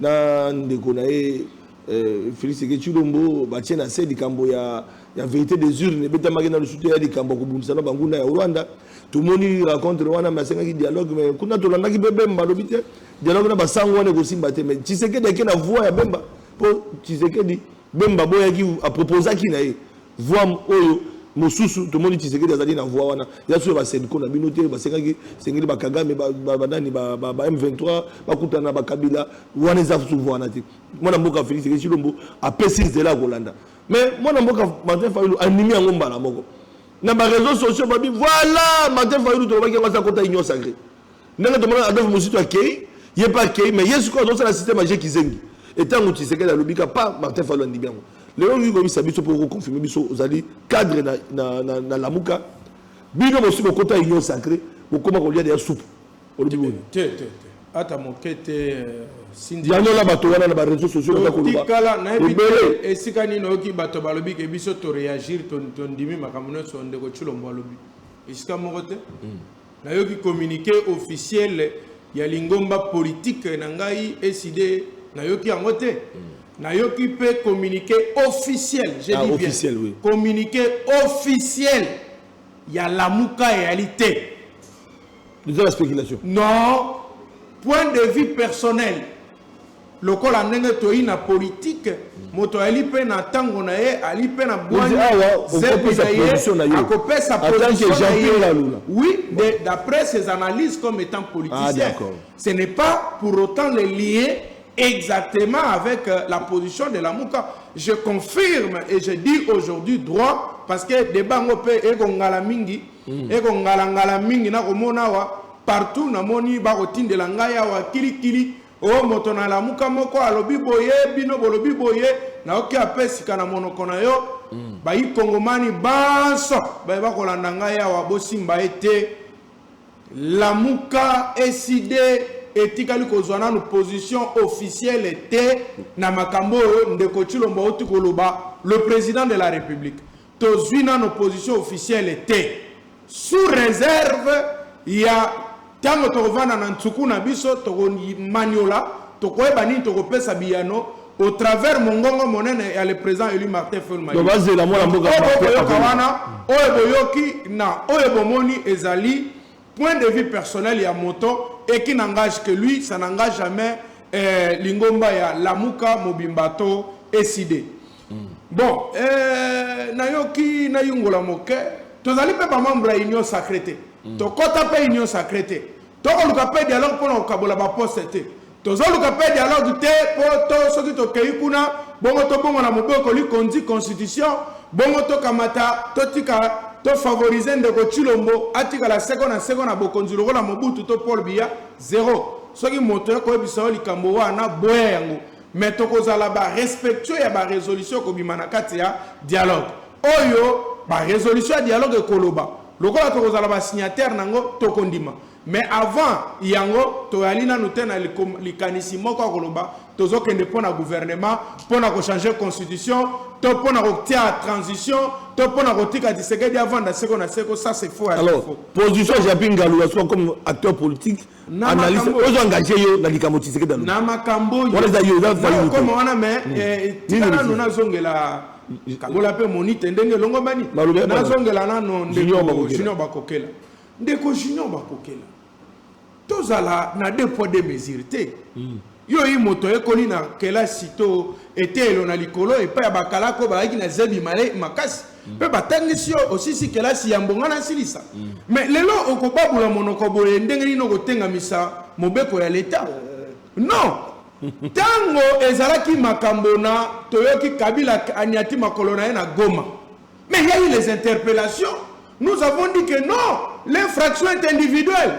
na ndeko na ye euh, Felix Tshisekedi Tshilombo batie na se likambo ya, ya verite des urnes ebetamaki na lisusu te ya likambo ya kobundisa na banguna ya Rwanda. Tomoni rencontre wana mais asengaki dialogue mais kuna tolandaki mpe Bemba alobi te dialogue na basango wana ekosimba te mais Tshisekedi ake na voie ya Bemba mpo Tshisekedi Bemba aboyaki a proposaki na ye voix oyo mosusu tomoni Tshisekedi azali na voix wana ya suyo ba Senko na bino te basengaki sengeli ba Kagame ba ba, ba nani ba, ba, ba M23 bakutana ba Kabila wana eza susu voix wana te mwana mboka Felix Tshisekedi Tshilombo apesi nzela ya kolanda mais mwana mboka Martin Fayulu animi yango mbala moko na ba réseaux sociaux babi voilà Martin Fayulu tolobaki yango asa kota union sacrée ndenge tomona adolphe muzitu akei ye mpe akei mais ye sikoyo azosala système aje kizengi etango tshisekedi alobi ka pa martin falo andimi yango lelo olingi koyebisa biso mpo okoconfirme biso ozali cadre na, na, na, na lamuka bino bosi bokota union sacré bokoma kolia deya supu olobi boye te te te ata moke te euh, sindi yango na bato wana na bareseau sociaux baza kolobatikala nayebi te esika nini oyoki bato balobi ke biso toreagir tondimi makambo nyonso ndeko tshilombo alobi esika moko te hmm. Nayoki communique officiel ya lingomba politique na ngai ECD nayoki yango te. Mm. nayoki mpe communiqué officiel j'ai ah, dit officiel, bien oui. communiqué officiel ya lamuka eyali te eza la spéculation non point de vue personnel Lokola ndenge toyi na politiki, moto ali pe na tango na ye, ali pe na bwanya, zebi na ye, akopesa position na ye, oui, de, d'après ses analyses comme etant politicien. Ce n'est pas pour autant le lier exactement avec la position de Lamuka. Je confirme et je dis aujourd'hui droit, parce que debat yango pe eko ngala mingi, eko ngala ngala mingi, nakomona awa partout, namoni bakotindela ngai awa kili kili, Oh moto na lamuka moko alobi boye bino bolobi boye na oki apesika na monoko na yo mm. bayi kongomani banso baye bakolanda ngai awa bosimba ye te lamuka eside etikali kozwa nanu position officielle te na makambo oyo ndeko tshilombo auti koloba le président de la république Tozui nano position officielle te sous reserve ya tango tokovanda na nsuku na biso toko maniola tokoyeba nini tokopesa biyano au travers mongongo monene ya le président élu Martin Fayulu Madidi. Bazela mwana mboka boyoka wana oyo boyoki na oyo bomoni ezali point de vue personnel ya moto et qui n'engage que lui, ça n'engage jamais eh, lingomba ya Lamuka mobimba to eside. Bon, eh, nayoki nayungola moke tozali mpe bamembre ya union sacré te tokɔta mpe union sacré te tokoluka mpe dialogue mpo na kokabola baposte te tozoluka mpe dialogue te mpo to soki tokei kuna bongo tobongo na mobeko likonzi constitution bongo tokamata totika tofavorize ndeko tshilombo atikala seko na seko na bokonzi lokola mobutu to paul biya zero soki moto ya koyebisa yo likambo wana boya yango Mais tokozala ba respectueux ya ba resolutions ekobima na kati ya dialogue. Oyo ba resolutions ya dialogue ekoloba, lokola tokozala ba signataires na yango, tokondima. Mais avant yango, toyali nanu te na likanisi moko ya koloba tozokende mpo na gouvernement, mpo na ko changer constitution, to mpo na kotia transition, to mpo na kotika Tshisekedi avanda seko na seko. Ça c'est faux ya faux. Alors, position ya Japy Ngalu ya soi comme acteur politique, analyse ozo engage yo na likambo tshisekedi alobi na makambo oyo wana eza yo eza fayi okoma wana mais hmm. eh, tika nano nazongela kabola mpe monite ndenge elongobani nazongela nano ndeko junior bakokela ndeko junior bakokela tozala na deux poids deux mesure te hmm. Yo i moto ayekoli na kelasi to eteyelo na likolo epai ya bakalaka oyo bazalaki na zebi makasi mpe batangisi yo osisi kelasi yambo ngai nasilisa me lelo okobabola monoko boye ndenge nini okotengamisa mobeko ya leta non ntango ezalaki makambo na toyoki kabila aniati makolo na ye na goma mais ya eu les interpellations nous avons dit que non l'infraction est individuelle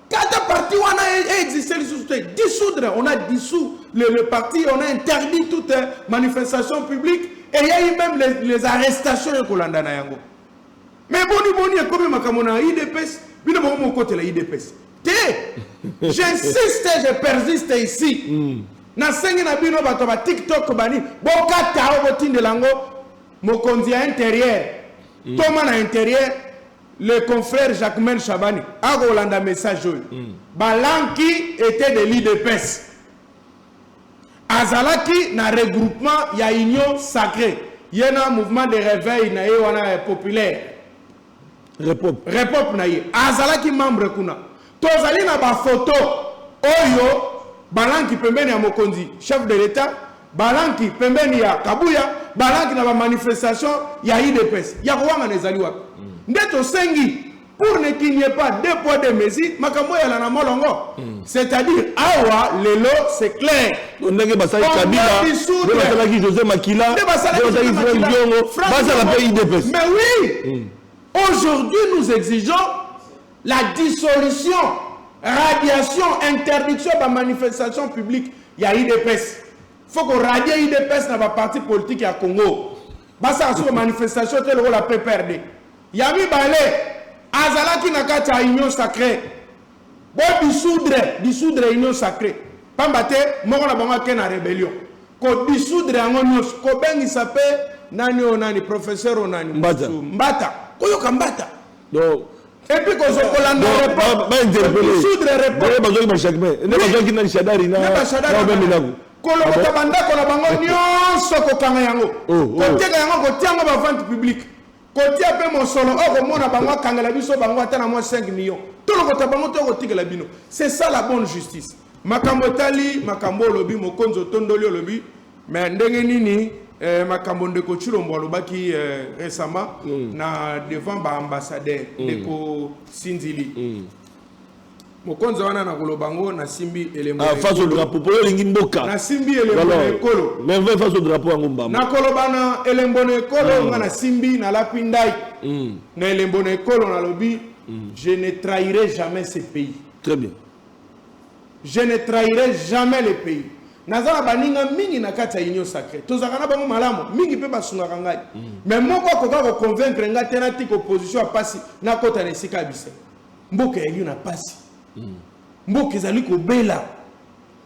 Kata parti wana existe lisusu te dissoudre on a dissous le, le parti on a interdit toute manifestation publique et ya eu même les, les arrestations ya kolanda na yango mais boni boni ekomi makambo na idps bino bango mokotela idps te j'insiste je persiste ici mm. nasengi na bino bato ba tiktok bani bokata o botindela yango mokonzi ya interieur mm. toma na interieur Le confrère Jacquemain Shabani akolanda message oyo mm. Balanki était de l'IDPS azalaki na regroupement ya union sacrée ye na mouvement de réveil na ye wana populaire repop na ye azalaki membre kuna Tozali na ba photos oyo balanki pembeni ya mokonzi, chef de l'Etat, balanki pembeni ya Kabuya, balanki na ba manifestations ya udps. Ya kowangana ezali wapi? Nde tosengi pour ne qu'il n'y ait pas deux poids deux mesures, makambo eyala na molongo. C'est-à-dire awa lelo c'est clair. ndenge basali On kabila doit dissoudre. nde basalaki josé makila Nde nde basalaki basalaki Joseph frank Makila. diongo Frank bazala Diongo. mpe idps Mais oui, aujourd'hui nous exigeons La dissolution, radiation, interdiction ya ba manifestations publiques ya udps. Faut ko radier udps na ba partis politiques ya Congo. Basala sous manifestation te lokola PPRD. Ya mibale, azalaki na kati ya union sacrée. Bo dissoudre, dissoudre union sacrée. Pamba te moko na bango ake na rébellion. Ko dissoudre yango nyonso, kobengisa pe nani oyo nani professeur oyo nani Mbata. Mbata. Koyoka Mbata. Donc epuis kozo kolanda bainterpelebazwaki bashakme nde bazwaki nani shadari naobeminaku kolokota bandako na bango nyonso kokanga yango oh, oh. koteka yango kotia yango bavente publique kotia mpe mosolo oyo komona bango akangela biso bango ata na mwa 5 million tolokota bango to kotikela bino c'est ça la bonne justice makambo etali makambo olobi mokonzi otondoli olobi Mais ndenge nini eh, makambo ndeko Tshilombo alobaki eh, récemment mm. na devant ba ambassadeur mm. ndeko Sinzili mm. mokonzi wana na koloba yango nasimbi elembo ah, face au drapeau mpo olingi mboka nasimbi elembo na ekolo merveille face au drapeau yango mbamba nakoloba na elembo na ekolo mm. nga nasimbi nalapi ndai mm. na elembo na ekolo nalobi mm. je ne trahirai jamais ce pays très bien Je ne trahirai jamais le pays naza na baninga mingi na kati ya union sacree tozalaka na bango malamu mingi mpe basungaka ngai mais moko akoka koconvaincre ngai te natika opposition ya mpasi nakota na esika ya bise mboka ya yo na mpasi mboka ezali kobela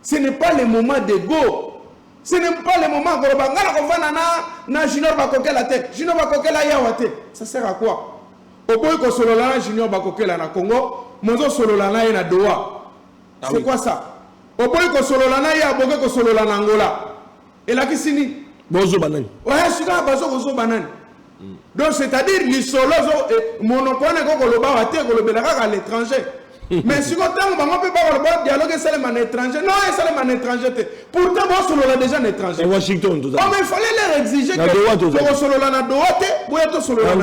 ce n'est pas le moment de go ce n'est pas le moment koloba ngai nakovanda na na junior bakokela te junior bakokela yawa te ça sert à quoi Oboyi ko solola na junior bakokela na congo mozo solola na ye na doha ah c'est quoi ça oboyi ko solola na ye aboke ko solola na angola elakisi nini bozoba nani oya sika bazo kozoba nani donc c'est à dire lisolo eh, monoko wana ekokoloba wa te kolobela kaka à l'étranger mais siko ntango bango mpe bakoloba dialogue esalema na étranger non esalema na étranger te pourtant bosolola déjà na étranger washington toza oh, mais il fallait leur exiger tokosolola na doha te boya tosolola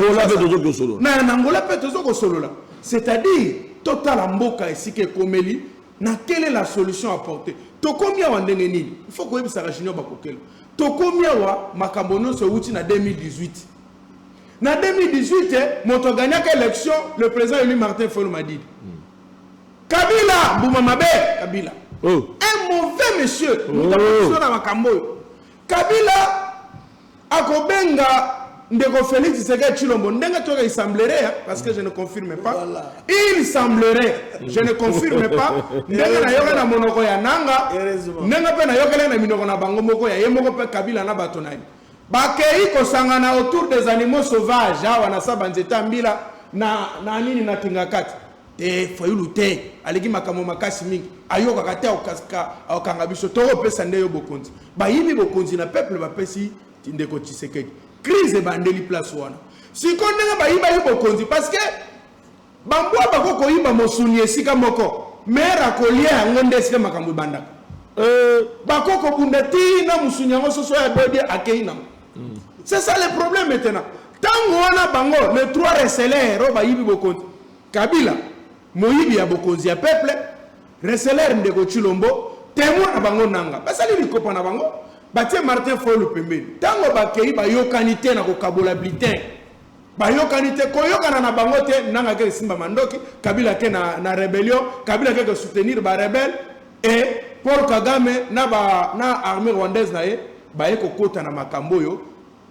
na angola mpe tozo kosolola c'est-à-dire totala mboka esika ekomeli na quelle est la solution apportée tokomi awa ndenge nini il faut koyebisaka junior bakokela tokomi awa makambo nyonso euti na 2018 Na 2018 moto a gagnaka election le president elu Martin Fayulu Madidi. Kabila mbuma mabe Kabila. Oh. Un mauvais monsieur. Oh. Moto akokiso na makambo oyo. Kabila akobenga ndeko Felix Tshisekedi Tshilombo ndenge toyoka il semblerait hein, parce que je ne confirme pas. Voilà. Il semblerait. Je ne confirme pas. Ndenge nayoka na monoko ya nanga. Ndenge pe nayokela na minoko na bango moko ya ye moko pe Kabila na bato na ye. Bakeyi kosangana autour des animaux sauvages awa na sa banzete ya mbila na na nini na kingakati te fayulu te aleki makambo makasi mingi ayokaka te akanga biso tokopesa nde yo bokonzi bayibi bokonzi na peuple bapesi ndeko tshisekedi crise ebandeli place wana siko ndenge bayibaki bokonzi parce que Ba mbwa bako koyiba mosuni esika moko mere akolia yango nde esika makambo ebandaka euh. bako kobunda ti na mosuni yango soso ya bodi akeyi nango mm. c'est ça le problème maintenant ntango wana bango le trois reseler oyo bayibi bokonzi kabila moyibi ya bokonzi ya peuple reseler ndeko chilombo temo na bango nanga basali likopa na bango batie martin folu pembeni ntango bakei bayokani te na kokabola blitin bayokani te koyokana na bango te nanga ke esimba mandoki kabila ke na, na rebellion kabila ke soutenir ba rebelle et paul kagame na, ba, na armée rwandaise na ye baye kokota na makambo oyo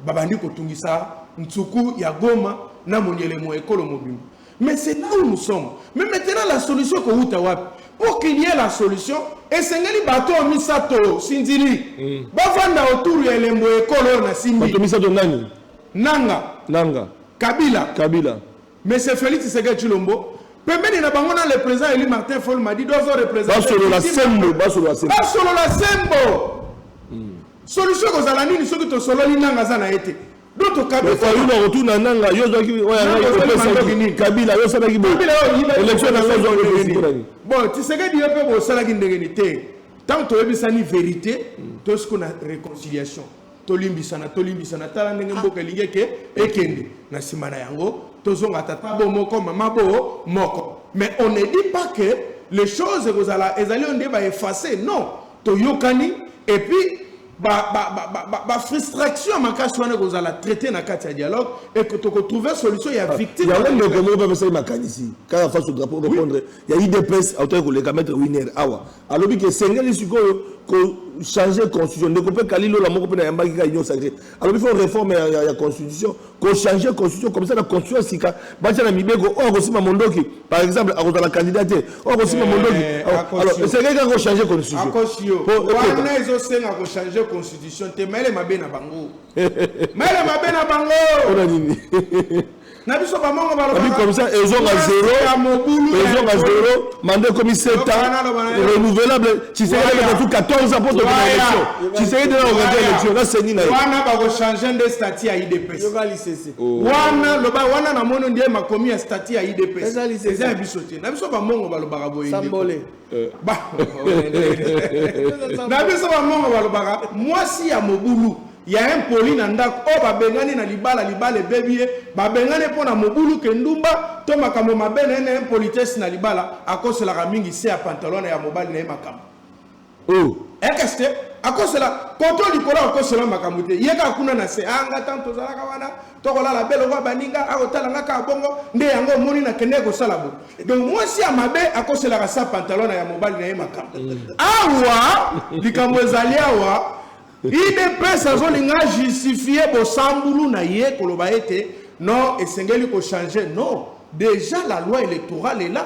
babandi kotungisa nsuku ya goma na monyelemo ekolo mobimba mais c'est là où nous sommes mais maintenant la solution ekowuta wapi pour qu'il y ait la solution esengeli bato oyo misato sinzili mm. bafanda autour ya elembo ekolo oyo na simbi bato misato nani Nanga. Nanga. Kabila. Kabila. Monsieur Felix Tshisekedi Tshilombo, pembeni na bango na le président élu Martin Fol Madi dozo représenter basolo la sembo basolo la sembo basolo la sembo hmm. solution kozala nini soki tosololi nanga aza na ye te otuna nanga yo kabila osalaki boelection na nga ozwaki bon tisekedi yo mpe bosalaki ndenge ni te ntango toyebisani verité tosiko na réconciliation tolimbisana tolimbisana tala ndenge ah. mboka elingi eke ekende na nsima na yango tozonga tata bo moko mama bo moko mais on ne dit pas que les choses ekozala ezali oyo nde baefface non toyokani et puis bafrustration ya makasi wana ekozala traité na kati ya dialogue e tokotrouve solution ya ah, victime yango ndeko moko bapesaki makanisi kaka faso drapeau repondre ya idps autaki koleka maître winer awa Alobi ke esengeli sikoyo ko changer constitution. Ndeko pe Kali Lola moko pe na yambaki ka Union Sacrée. Alobi faut réforme ya, ya, ya constitution, ko changer constitution comme ça na constitution sika batia na mibeko oyo akosimba mondoki par exemple akozala candidat te oyo akosimba mondoki alors esengeli kaka ko changer constitution. Akosio. Wana ezosenga ko changer constitution te mayele mabe na bango. mayele mabe na bango. Ona nini? na biso bamongo balobakomisa ezonga zero ezonga zero manda ekomi 7 ans renouvelable tshisekedi akatu 14 ans mpo tokoma élection tshisekedi na organise élection nasengi na ye wana bakochange nde stati ya idps oh. wana loba wana na mono nde makomi ya stati ya idps eza ya biso te na biso bamongo balobaka boye Na biso ba mongo balobaka mwasi ya mobulu ya impoli na ndako oyo babengani na libala libala ebebi ye babengani mpo na mobulu ke ndumba to makambo mabe na ye na impolitesse na libala akoselaka mingi se ya pantalon na ya mobali na ye makambo oh. ekeste eh, akosela koto likolo akosela makambo te ye kaka kuna na se anga ah, ntango tozalaka wana tokolala be lokola baninga akotala nga kaka bongo nde yango omoni nakendeki kosala bo donc mwasi ya mabe akoselaka sa pantalon na ya mobali na ye makambo awa likambo ezali awa idps azolinga justifie bosambulu na ye koloba ete non esengeli kochange non déjà la loi électorale est là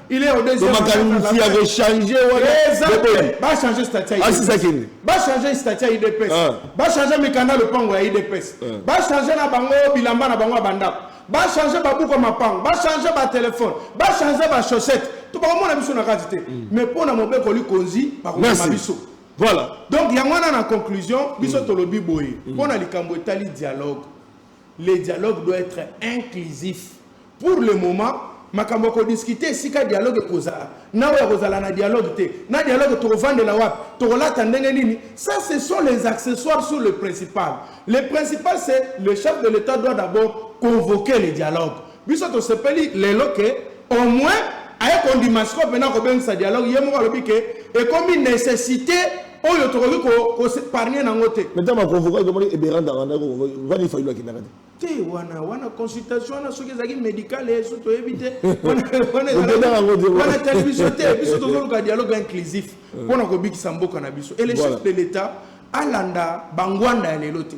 Il est au deuxième. Donc makanisi ya ko changer wana. Ba changer statut. Ah c'est ça qui est. Ba changer statut ya IDPS. Ah. Ba changer mikanda lopango ya IDPS. Ah. Ba changer na bango bilamba na bango banda. Ba changer ba buko mapango, ba changer ba téléphone, ba changer ba chaussettes. To ba mona biso na kati te. Mm. Mais pona mobeko likonzi ba ko biso. Voilà. Donc yango wana na conclusion biso mm. tolobi boye. Mm. Pona likambo etali dialogue. Le dialogue doit etre inclusif. Pour le moment, makambo ya kodiskute esika dialogue ekozala na oyo akozala na dialogue te na dialogue tokovandela wapi tokolata ndenge nini ça ce sont les accessoires sur le principal le principal c'est le chef de l'état doit d'abord convoquer le dialogue Biso tosepeli lelo que au moins aye kondima sikoyo mpena kobengisa dialogue ye moko alobi ke ekomi necessite oyo tokoki kosepargne nango te meta baconvoka ekomaki eberanda randa vani fayulu akendaka te te wana wana consultation wana soki ezalaki médicale eh, so toyebi te wana tali biso te biso tozoluka dialogue inclusif mpo na kobikisa mboka na biso et le chef de l'état alanda bangwanda ya lelo te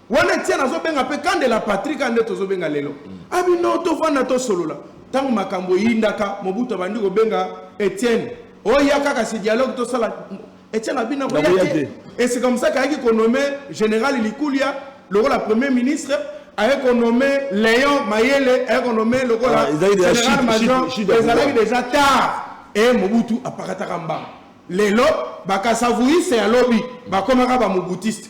Wana Etienne azo benga pe Kande la patrie kaka nde tozo benga lelo. Abi non to vanda to solola. Tango makambo eyindaka Mobutu abandi ko benga Etienne. Oya kaka si dialogue to sala Etienne abi na koya Nakoya te. te. Et c'est comme ça qu'ayaki ko nommer général Likulia lokola premier ministre ayaki ko nommer Léon Mayele ayaki ko nommer lokola Ah, ezalaki déjà général chute- major chute- chute ya ezalaki pouvoir. déjà tard et Mobutu apakataka mbanga lelo bakasavuyise ya lobi bakomaka bamobutiste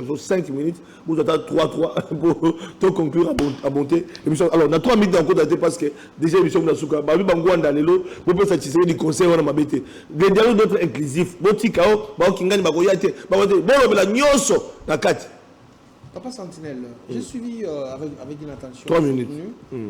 faut 5 minutes vous ata 3 3 pour to conclure à monter émission alors na 3 minutes encore daté parce que déjà émission na suka ba ba ngwanda lelo bo pesa tshisele du conseil wana mabete le dialogue doit être inclusif bo tika o ba kingani ba ko yate ba ko bo lobela nyoso na kati papa sentinelle j'ai mm. suivi euh, avec avec une attention 3 minutes mm.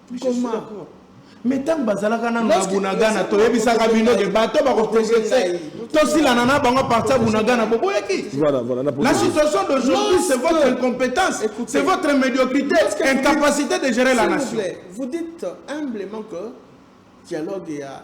me ntango bazalaka nano na bunagana toyebisaka bino ke bato bakoprogrese tosilana na bango aparti ya bunagana boboyaki la situation d'aujourd'hui c'est votre incompétence c'est votre médiocrité incapacité de gérer la nation vous dites humblement que dialogue ya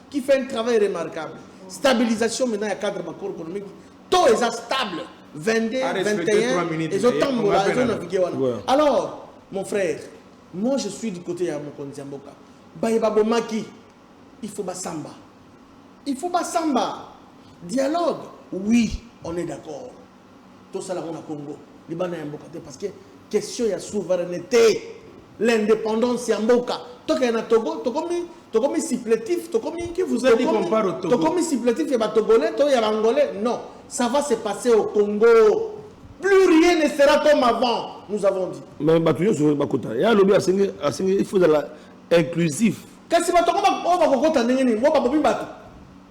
qui fait un travail remarquable stabilisation maintenant ya cadre macro économique to eza stable 22 21 ezotambola ezonavigue wana alors mon frère moi je suis du côté ya mokonzi ya mboka baye babomaki il faut basamba il faut basamba dialogue oui on est d'accord tosala yango na congo libanda ya mboka te parce que question ya souveraineté l'indépendance ya mboka tokende na togo tokomi tokomi supplétif tokomi qui vous a dit qu'on part au togo tokomi supplétif ya batogolais to ya bangolais non ça va se passer au congo plus rien ne sera comme avant nous avons dit mais bato nyonso bakota ya alobi asengi asengi il faut ezala inclusif kasi bato yango oyo bakokota ndenge nini ngo babomi bato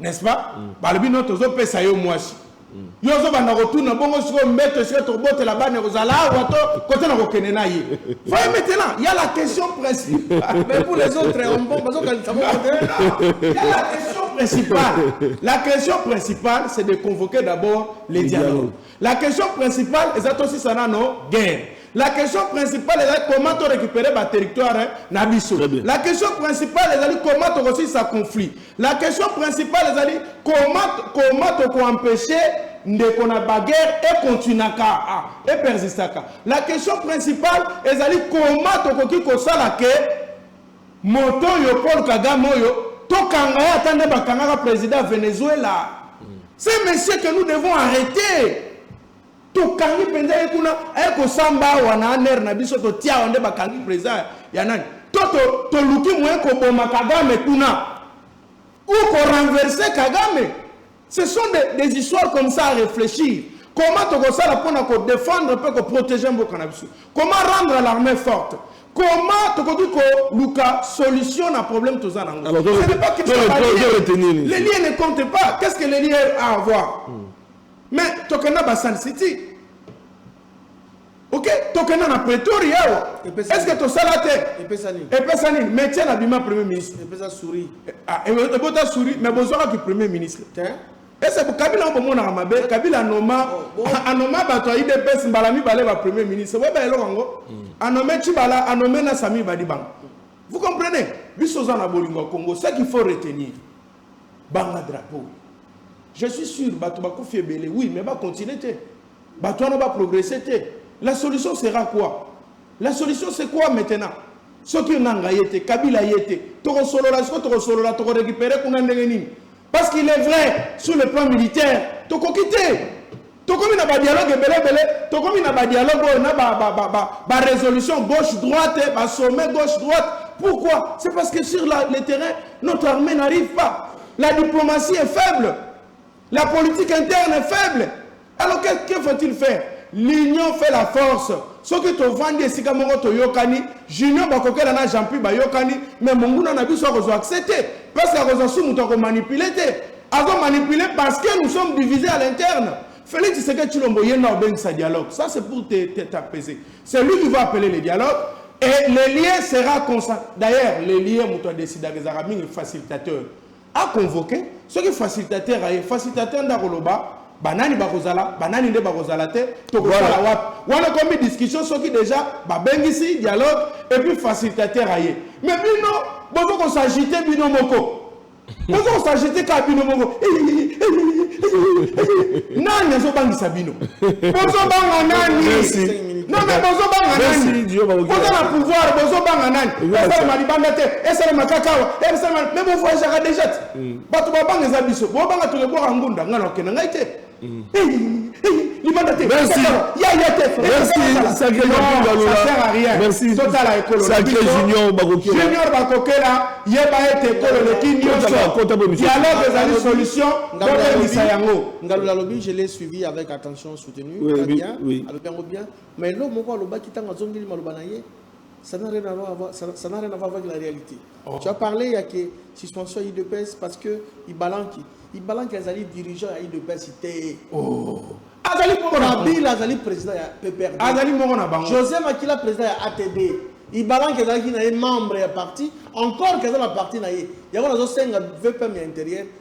n'est-ce pas mm. balobi no tozopesa yo mwasi mm. yo ozobanda kotuna bongo sikoyo mbeto esika tokobotela bana ekozala awa to kote na kokende na ye voye maintenant ya la question principale mais pour les autres eh, bazokanisa ya la question principale la question principale c'est de convoquer d'abord les dialogues La question principale eza tosisa nano guerre. La question principale ezali comment to récupérer ba territoire na biso. La question principale ezali comment tokosisa conflit. La question principale ezali comment comment toko empêcher ndeko na baguerre ekontinaka ah, epersistaka. La question principale ezali comment tokoki kosala ke Moto oyo Paul Kagame oyo tokanga ye ata nde bakangaka president ya Venezuela. Ce monsieur que nous devons arreter. Tokangi penza ye kuna aye kosamba awa na aner na biso totia awa nde bakangi president ya nani? To toluki moyen koboma Kagame kuna ou ko renverser Kagame Ce sont des, des histoires comme ça à réfléchir. Comment tokosala pona ko défendre mpe ko protéger mboka na biso? Comment rendre l'armée forte? Comment tokoki ko luka solution na problème toza nango? Alors, Ce n'est pas que to- to- ça va to- lier. to- retenir nini? Les liens ne comptent pas. Qu'est-ce que les liens a à voir? Mais tokenda ba Sun City. Ok, tokenda na pretori awa. Est-ce que tosala te? Epesa nini? Epesa nini? Mais tiens abima premier ministre. Epesa souris. Eh, ah, ebota souris, mais bozwaka ki premier ministre. Tiens. ese kabila yango bomonaka mabe kabila anoma oh, anoma bato ya idps mbala mibale ba premier ministre boyeba eloko yango hmm. anome cibala anome na sami badi bango vous comprenez biso oza na bolingo ya congo ce qu'il faut retenir banga drapeau je suis sûr bato bakufi ebele oui mais bacontinue te Bato wana ba progresser te. La solution sera quoi? La solution c'est quoi maintenant? Soki Nanga ye te, Kabila ye te, toko solola sikoyo toko solola toko recuperer kuna ndenge nini? Parce qu'il est vrai, sur le plan militaire, tokoki te. Tokomi na ba dialogue ebele ebele, tokomi na ba dialogue oyo na ba ba ba ba resolution gauche droite, ba sommet gauche droite. Pourquoi? C'est parce que sur la, le terrain, notre armée n'arrive pas. La diplomatie est faible. La politique interne est faible. Alors que, que faut-il faire L'union fait la force. soki tovandi esika moko toyokani junior bakokela na jean pi bayokani mais monguna na biso akozwa accès te parce que akozwa su moto akomanipule te azomanipule parce que nous sommes divisés à l'interne Félix Tshisekedi Tshilombo yenda obengisa dialogue. Ça c'est pour t'apaiser. C'est lui qui va appeler le dialogue et le lien sera constant. D'ailleurs, le lien muto décida que Zaraming est facilitateur. A convoquer soki facilitateur aye, facilitateur nde akoloba ba nani bakozala, ba nani nde bakozala te, tokosala wapi. Wana ekomi discussion soki dejà babengisi dialogue et puis facilitateur aye. Mais bino bozo ko s'agiter bino moko. Bozo ko s'agiter kaka bino moko. Nani azobangisa bino? Bozobanga nani? non mais bozobanga nani boza na pouvoir bozobanga nani esalema libanda te esalema kaka awa esalema mais bovoyageaka déjà te mm. bato babanga eza biso bobanga tolebwaka ngunda ngai nakokenda ngai te mm. libanda te yaya te totala ekolojunior bakokela yeba ete ekolo eleki nyonso dialogue ezali solution bobebisa yango ngalula lobi je l'ai suivi avec attention soutenu oui, oui, bien, oui. alobi yango bien mais eloko moko alobaki ntango azongeli maloba na ye ça n'a rien à voir, ça, ça n'a rien à voir avec la réalité. Oh. Tu as parlé, il y a que suspension à IDPS parce que il balance, il balance qu'ils allaient dirigeants à IDPS, il Oh. Azali moko na Bill, azali président ya PPRD. Azali moko na bango. José Makila président ya ATD. Il balance qu'ils allaient membre ya parti, encore qu'ils allaient la partie na ye. Il y a un VPM intérieur.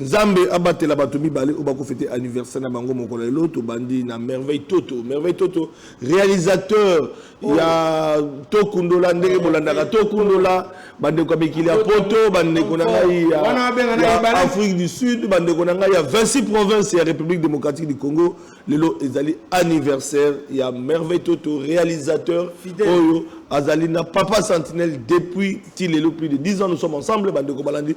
Nzambe abatela bato mibale oyo bako fete anniversaire na bango mokolo ya lelo tobandi na merveille toto merveille toto réalisateur oh. ya tokundola ndenge bolandaka tokundola bandeko ya mikili ya poto bandeko na ngai ya afrique du sud bandeko na ngai ya 26 province ya république démocratique du congo lelo ezali anniversaire ya merveille toto réalisateur oyo azali na papa sentinelle depuis ti lelo plus de 10 ans nous sommes ensemble bandeko balandi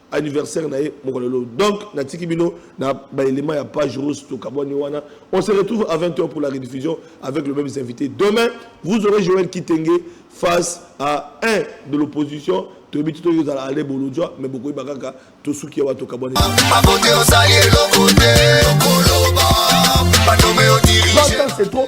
anniversaire na ye mokolo lelo donc natiki bino na ba éléments ya page rose tokabwani wana on se retrouve à 20h pour la rediffusion avec le même invité demain vous aurez Joël Kitenge face à un de l'opposition toyebi ti toki ozala ale bolodjwa mais bokoyeba kaka tosuki awa tokabwani c'est trop